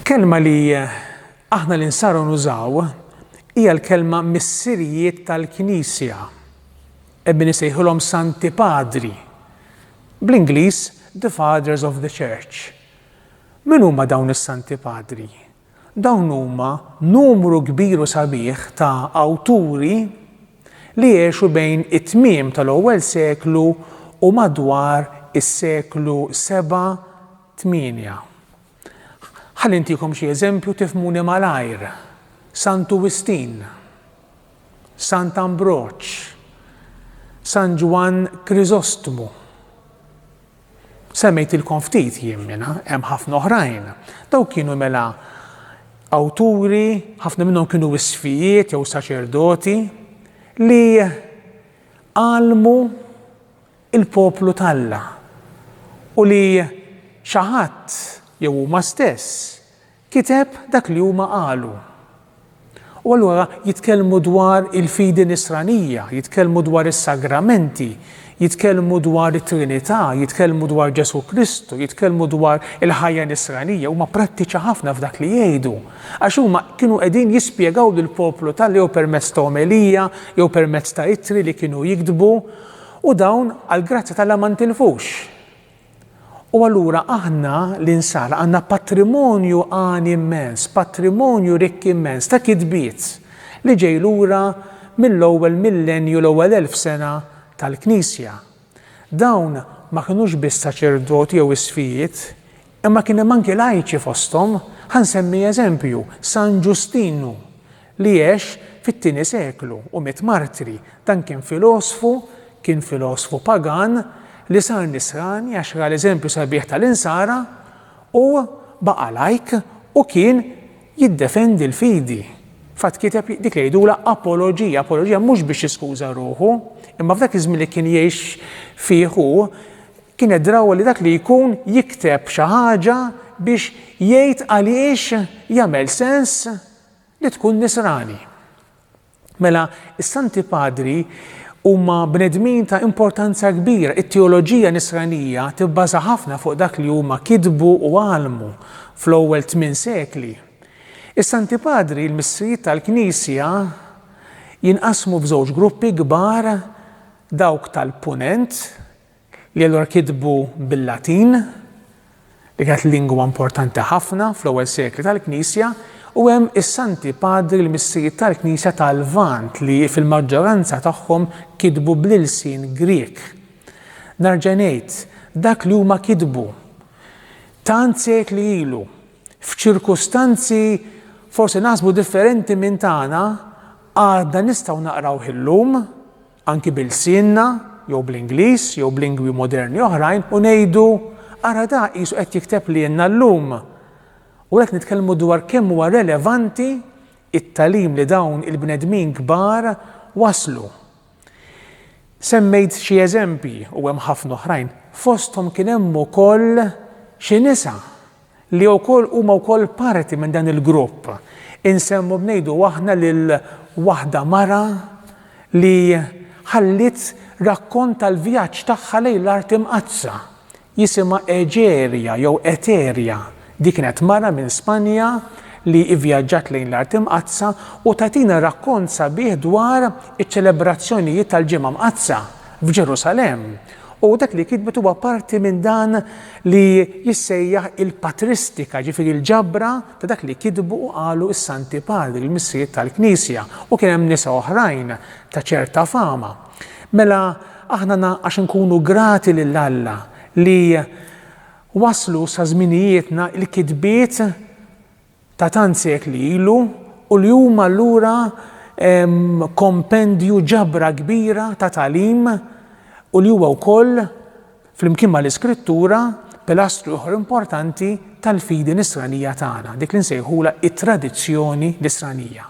Kelma li aħna li nsaru nużaw hija l-kelma missirijiet tal-Knisja. Ebbi nisejħilhom Santi Padri. Bl-Ingliż The Fathers of the Church. Min huma dawn is-Santi Padri? Dawn huma numru kbir u sabiħ ta' awturi li għexu bejn it-tmiem tal-ewwel seklu u madwar is-seklu seba', tmienja. Ħalli ntikom xi eżempju tifhmuni malajr, Santu Wistin, Sant Ambroġ, San Ġwann Kriżostmu. Semmejtilkom ftit jien minnha, hemm ħafna oħrajn. Dawk kienu mela awturi, ħafna minnhom kienu wisfijiet jew saċerdoti li għallmu l-poplu t'Alla u li xi ħadd jew huma stess Kiteb dak li huma qalu. U allura jitkellmu dwar il-fidi nisranija, jitkellmu dwar is-sagramenti, jitkellmu dwar it-Trinità, jitkellmu dwar Ġesù Kristu, jitkellmu dwar il-ħajja nisranija, huma prattiċi ħafna f'dak li jgħidu. Għax huma kienu qegħdin jispjegaw lill-poplu ta' jew permezz ta' omelija, jew permezz ta' ittri li kienu jiktbu, u dawn għall-grazzja t'Alla ma ntilfux. U allura aħna, l-Insara, għandna patrimonju għani immens, patrimonju rikk immens ta' kitbiet li ġej lura mill-ewwel millennju, l-ewwel elf sena tal-Knisja. Dawn ma kinux biss saċerdoti jew isqfijiet, imma kien hemm anki lajċi fosthom. Ħa nsemmi eżempju, San Ġustinu, li għex fit-tieni seklu u miet martri. Dan kien filosfu, kien filosfu pagan li sar nisrani għax ra l-eżempju sabiħ tal-insara u baqa' lajk u kien jiddefendi l-fidi. Fatt kiteb dik li jgħidulha apoloġija, apoloġija mhux biex jiskuża ruħu, imma f'dak iż-żmien li kien jgħix fih hu kien qed draw li dak li jkun jikteb xi ħaġa biex jgħid għaliex jagħmel sens li tkun Nisrani. Mela, is-Santi Padri huma bnedmin ta' importanza kbira. It-teoloġija Nisranija tibbaża ħafna fuq dak li huma kitbu u għallmu fl-ewwel tmien sekli. Is-Santi Padri, il-Missrijiet tal-Knisja, jinqasmu f'żewġ gruppi kbar dawk tal-Punent, li allura kitbu bil-Latin, li kienet lingwa importanti ħafna fl-ewwel sekli tal-Knisja, u hemm is-Santi Padri l-Missirijiet tal-Knisja tal-Lvant li fil-maġġoranza tagħhom kitbu bl-ilsien Grieg. Nerġa' ngħid, dak li huma kitbu tant sekli ilu, f'ċirkustanzi forsi naħsbu differenti minn tagħna, għadna nistgħu naqrawh illum. anki b'ilsienna jew bl-Ingliż jew b'lingwi moderni oħrajn u ngħidu, Ara dak qisu qed jikteb lilna llum! U għalhekk nitkellmu dwar kemm huwa relevanti t-tagħlim li dawn il-bnedmin kbar wasslu. Semmejt xi eżempji u hemm ħafna oħrajn, fosthom kien hemm ukoll xi nisa li wkoll huma wkoll parti minn dan il-grupp. Insemmu b'ngħidu aħna lil waħda mara li ħalliet rakkont tal-vjaġġ tagħha lejn l-Art Imqaddsa. Jisimha Egeria jew Eteria. Di kienet mara minn Spanja li ivjaġġat lejn l-Art Imqaddsa u tagħtina rakkont sabiħ dwar iċ-ċelebrazzjonijiet tal-Ġimgħa Mqaddsa. f'Ġerusalemm, u dak li kitbet huwa parti minn dan li jissejjaħ il-patristika, jiġifieri l-ġabra ta' dak li kitbu u qalu s-Santi Padri, l-Missirijiet tal-Knisja, u kien hemm nisa oħrajn ta' ċerta fama. Mela aħna għax inkunu grati lil Alla li waslu sa żminijietna l-kitbiet ta' tant sekli ilu u li huma allura kompendju, ġabra kbira ta' tagħlim u li huwa wkoll, flimkien mal-Iskrittura, pilastru ieħor importanti tal-fidi Nisranija tagħna, dik li nsejħulha t-tradizzjoni Nisranija.